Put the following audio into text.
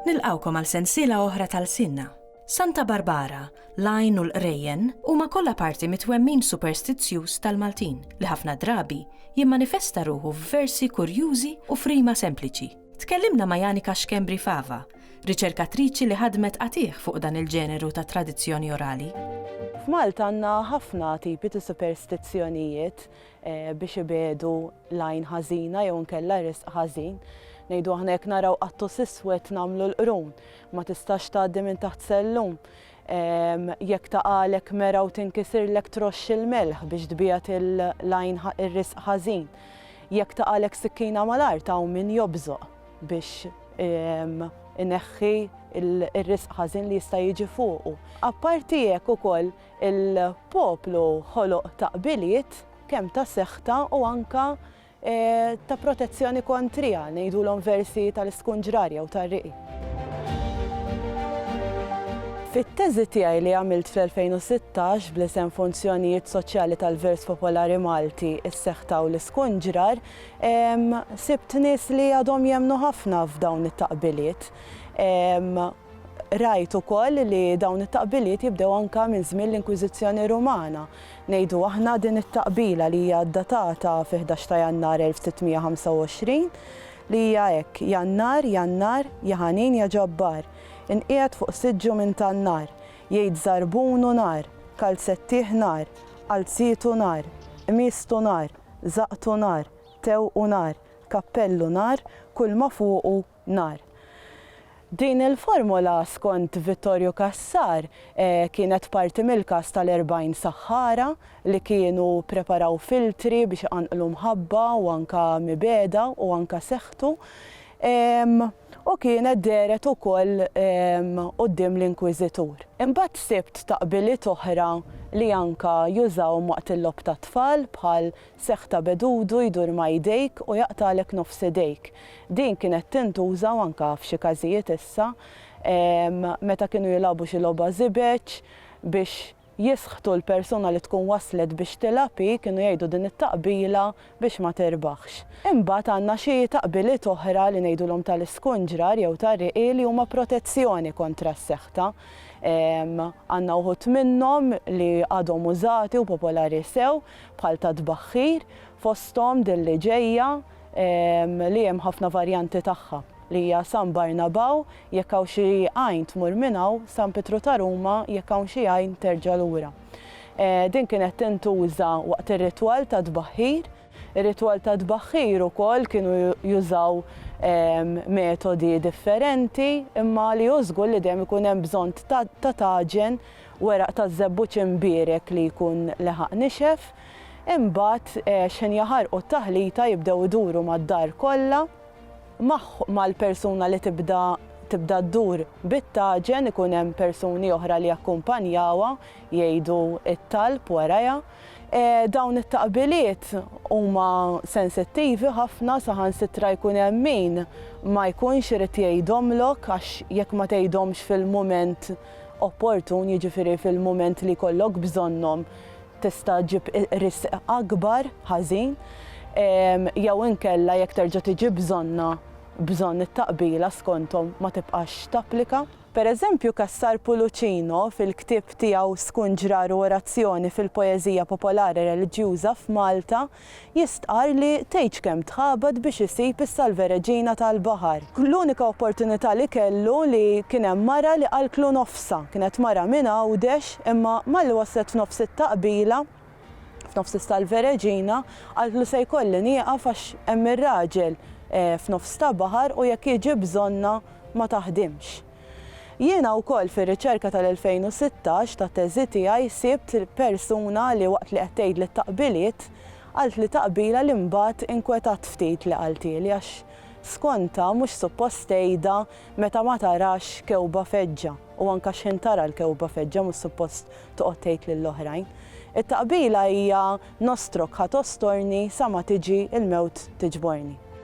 Nilqawkom għal sensiela oħra tal-sinna. Santa Barbara, l-għajn u l-qrejjen huma kollha parti mit-twemmin superstizzjuż tal-Maltin li ħafna drabi jimmanifesta ruħu f'versi kurjużi u frima sempliċi. Tkellimna ma' Janika Xkembri Fava, riċerkatriċi li ħadmet qatigħ fuq dan il-ġeneru ta' tradizzjoni orali. F'Malta għandna ħafna tipi ta' superstizzjonijiet eh, biex ibedu lajn ħażina jew nkella risq ħażin. Ngħidu aħna jekk naraw qattu siswet nagħmlu l-qrun, ma tistax tgħaddi minn taħt sellum. Ehm, jekk taqalek mera u tinkisirlek troxx il-melħ biex tbijat il-lajn ir-risq ħażin. Jekk taqalek sikkina mal-art hawn min jobżoq. biex ineħħi r-risq ħażin li jista' jiġi fuqu. Apparti hekk ukoll il-poplu ħoloq ta' qbiliet kemm ta' seħta u anke ta' protezzjoni kontriha, ngħidulhom versi tal-iskunġrar jew tar-riqi. Fit-teżi tiegħi li għamilt fl-2016 bl-isem Funzjonijiet Soċjali tal-Vers Popolari Malti, is-Seħta u l-Iskunġrar, Sibt nies li għadhom jemmnu ħafna f'dawn it-taqbiliet. Rajt ukoll li dawn it-taqbiliet jibdew anke minn żmien l-Inkwiżizzjoni Rumana. Ngħidu aħna din it-taqbila li hija ddatata fi ħdax ta' Jannar 1625 li hija hekk, Jannar, Jannar, ja ħanin ja ġabbar, inqiegħed fuq siġġu minn tan-nar, jgħid żarbunu nar, kalzettih nar, qalzietu nar, qmieżtu nar. żaqtu nar, tewqu nar, kappellu nar, kulma fuqu nar. Din il-formola skont Vittorju Cassar kienet parti mill-każ tal-erbgħin saħħara li kienu ppreparaw filtri biex iqanqlu mħabba u anke mibegħda u anke seħħtu. u kienet dehret ukoll quddiem l-Inkwiżitur. Imbagħad sibt taqbiliet oħra li anke jużawhom waqt il-logħob tat-tfal bħal seħħ ta' bedudu jdur ma' idejk u jaqtagħlek nofs idejk. Din kienet tintuża u anke f'xi każijiet issa meta kienu jilagħbu xi logħba żibeġ biex Jisħtu l-persuna li tkun waslet biex tilgħab hi, kienu jgħidu din it-taqbila biex ma tirbaħx. Imbagħad għandna xi taqbiliet oħra li ngħidulhom tal-iskunġrar jew tar-riqi li huma protezzjoni kontra s-seħta. Għandna wħud minnhom li għadhom użati u popolari sew bħal tat-tbaħħir, fosthom din li ġejja li hemm ħafna varjanti tagħha li hija San Barnabaw Jekk hawn xi għajn tmur minn hawn, San Pietru ta' Ruma, jekk hawn xi għajn terġa' lura. Din kienet tintuża waqt ir-ritwal tat-tbaħħir. Ir-ritwal tat-tbaħħir ukoll kienu jużaw metodi differenti, imma li hu żgur li dejjem ikun hemm bżonn ta' taġen, weraq taż-żebbuġ imbierek li jkun leħaq nixef. Imbagħad xħin jaħarqu t-taħlita jibdew iduru mad-dar kollha. Mal-persuna li tibda tibda ddur bit-taġen ikun hemm persuni oħra li jakkumpanjawha jgħidu t-talb warajha. Dawn it-taqbiliet huma sensittivi ħafna saħansitra jkun hemm min ma jkunx irid jgħidhomlok għax jekk ma tgħidhomx fil-mument opportun, jiġifieri fil-mument li jkollok bżonnhom, tista' ġġib risq akbar ħażin jew inkella jekk terġa' tiġi bżonnha bżonn it-taqbila skonthom ma tibqax tapplika. Per eżempju Cassar Pulucino fil-ktieb tiegħu Skunġrar u Orazzjoni fil-Poeżija Popolari Reliġjuża f'Malta, jistqarr li tgħidx kemm tħabat biex isib is-Salve Regina tal-baħar. L-unika opportunità li kellu li kien hemm mara li qalklu nofsha. Kienet mara minn Għawdex imma malli waslet f'nofs it-taqbila, f'nofs is-Salve Regina, qaltlu se jkolli nieqaf għax hemm ir-raġel f'nofs ta' baħar u jekk jiġi bżonnha ma taħdimx. Jiena wkoll fir-riċerka tal-2016 tat-teżi tiegħi sibt persuna li waqt li qed tgħidli t-taqbiliet, qaltli taqbila li mbagħad inkwetat ftit li qaltieli għax skontha mhux suppost tgħidha meta ma tarax kewba feġġa u anke x'ħin tara l-kewba feġġa mhux suppost toqgħod tgħid lill-oħrajn. It-taqbila hija nostrok ħa tostorni sa ma tiġi l-mewt tiġborni.